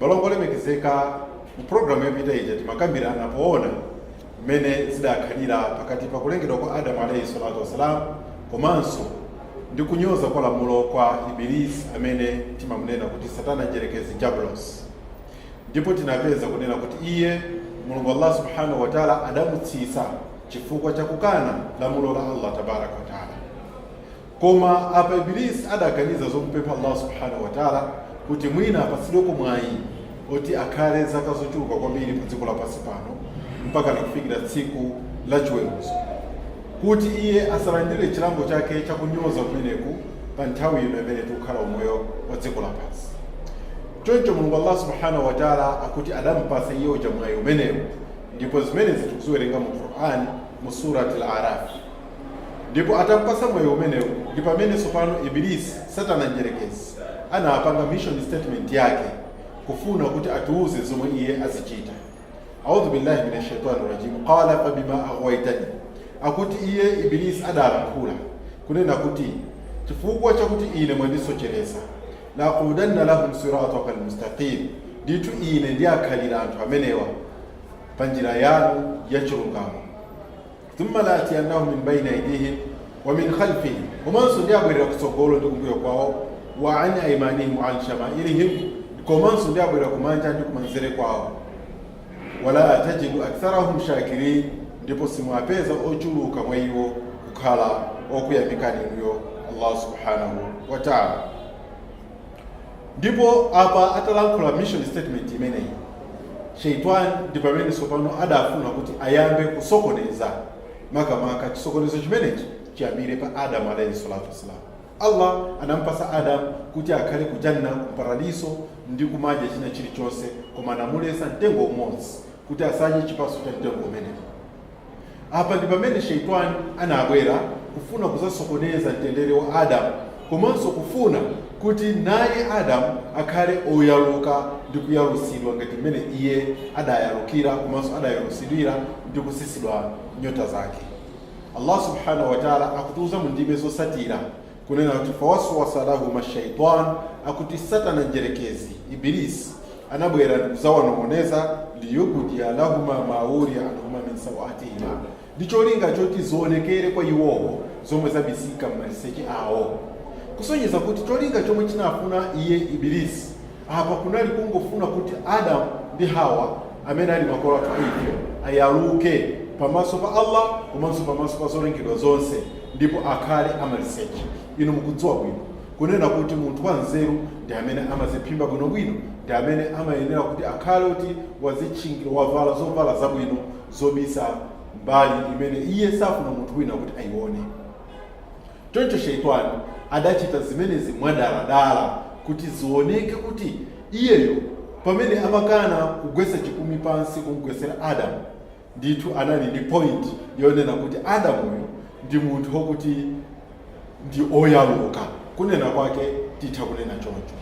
Balongo olemekezeka, mu programu yapita ija timakambirana poona mmene zidakhalira pakati pa kulengedwa kwa Adamu alayhi salatu wassalam komanso ndi kunyoza kwa lamulo kwa Ibilisi amene timamunena kuti Satana Mdyerekezi Jabulos, ndipo tinapeza kunena kuti iye Mulungu Allah subhanahu wa taala adamutsitsa chifukwa cha kukana lamulo la Allah tabaraka wa taala. Koma apa Iblis adaganiza zomupempha Allah Subhana Watala kuti mwina apatsidweko mwayi oti akhale zaka zochuluka kwambiri pa dziko lapansi pano mpaka nakufikira tsiku la chiweruzo, kuti iye asalandire chilango chake cha kunyoza kumeneku pa nthawi ino imene tikukhala umoyo wa dziko lapansi. Choncho Mulungu Allah Subhana Watala akuti adampasa iye uja mwayi umenewu, ndipo zimenezi tikuziwerenga mu Quran mu Surat Al-Araf. ndipo atampasa mwayi umenewu ndi pamene tsopano ibilisi satana mdyerekezi anapanga mission statement yake kufuna kuti atiuze zomwe iye azichita audhu billahi min ashaitani rajim qala fabima aghwaitani akuti iye ibilisi adalankhula kunena kuti chifukwa chakuti ine mwandisochereza laqudanna lahum sirataka almustaqim ndithu ine ndiakhalira anthu amenewa pa njira yanu ya chilungamo thumma laatiyannahum min baini aidihim wa min khalfihim komanso ndiabwerera kutsogolo ndi kumbuyo kwawo wa an aimanihim wa an shamailihim komanso ndiabwerera kumanja ndi kumanzere kwawo wala tajidu aktharahum shakirin ndipo simwapeza ochuluka mwa iwo kukhala okuyamikani inuyo allah subhanahu wa taala Ndipo apa atalankhula mission statement imeneyi, Shaytwaan ndi pamene tsopano adafuna kuti ayambe kusokoneza, makamaka chisokonezo chimenechi chiyambire pa Adam alaihi salatu wassalam. Allah anampasa Adam kuti akhale ku Jannah, ku Paradiso, ndi kumadya china chilichonse, koma anamulesa mtengo umodzi kuti asadye chipatso cha mtengo umenewu. Apa ndi pamene Shaytwaan anabwera kufuna kuzasokoneza mtendere wa Adam komanso kufuna kuti naye Adam akhale oyaluka ndi kuyalusidwa ngati mmene iye adayalukira komanso adayalusidwira ndi kusisidwa nyota zake. Allah subhanahu wa ta'ala akutiuza mu ndime zosatira Kunena kuti fawaswasa lahuma shaitan akuti Satana Mdyerekezi, Ibilisi, anabwera ndikuzawanong'oneza liyubdiya lahuma ma wuriya anhuma min sawatihima ndi cholinga choti zionekere kwa iwowo zomwe zabisika m'maliseche awo, kusonyeza kuti cholinga chomwe chinafuna iye Ibilisi Apa kunali kungofuna kuti Adam ndi Hawa amene ali makolo athu a ife ayaluke pamaso pa Allah komanso pamaso pa zolengedwa zonse ndipo akhale amaliseche. Inu mukudziwa bwino kunena kuti munthu wa nzeru ndi amene amaziphimba bwinobwino ndi amene amayenera kuti akhale kuti wazitchingira wavala zovala zabwino zobisa mbali imene iye safuna munthu wina kuti ayione. Choncho Shaytwaan adachita zimenezi mwadaladala kuti zioneke kuti iyeyo pamene amakana kugwetsa chipumi pansi kum'gwetsera Adam, ndithu anali ndi point yonena kuti Adam uyu ndi munthu okuti ndi oyaluka, kunena kwake titha kunena choncho.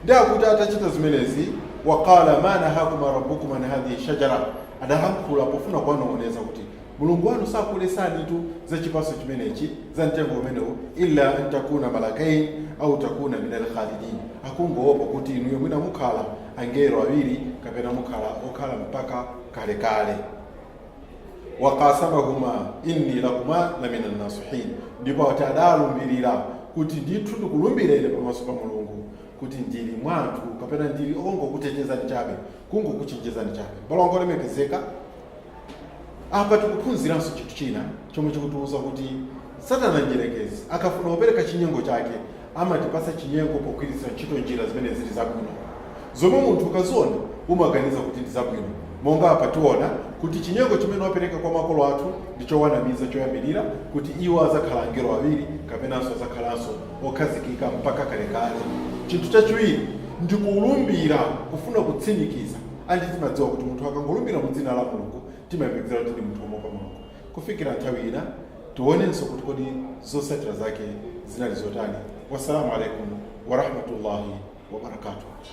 Ndiye akuti atachita zimenezi, Wa qaala maa nahaakuma Rabbukum an haadhihi shajarah, adalankhula pofuna kuwanong'oneza kuti Mulungu wanu sanakuletsenitu za chipatso chimenechi, za mtengo umenewu, illa an takuna malakain au takuna min alkhalidin, akungoopa kuti inuyo mwina mukhala angelo awiri kapena mukhala okhala mpaka kalekale. waqasamahuma inni lakuma la min annasihin, ndipo ati adalumbirira kuti ndithu ndikulumbira ine pamaso pa Mulungu kuti ndili mwa anthu kapena ndili ongokuchenjezani chabe, kungokuchenjezani chabe. Abale anga olemekezeka Apa tikuphunziranso chinthu china chomwe chikutiuza kuti Satana Mdyerekezi akafuna kupereka chinyengo chake, amatipatsa chinyengo pogwiritsa ntchito njira zimene zili zabwino, zomwe munthu ukaziona umaganiza kuti ndi zabwino. Monga apa tiona kuti chinyengo chimene wapereka kwa makolo athu ndi chowanamiza choyambirira, kuti iwo adzakhala angelo awiri kapenanso adzakhalanso okhazikika mpaka kalekale. Chinthu chachiwiri ndi kulumbira, kufuna kutsimikiza. Anji timadziwa kuti munthu akangolumbira mu dzina la Mulungu timayembekezera kuti ndi munthu omuopa Mulungu. Kufikira nthawi ina tionenso kuti kodi zotsatira zake zinali zotani. Wassalamu alaikum warahmatullahi wabarakatuh.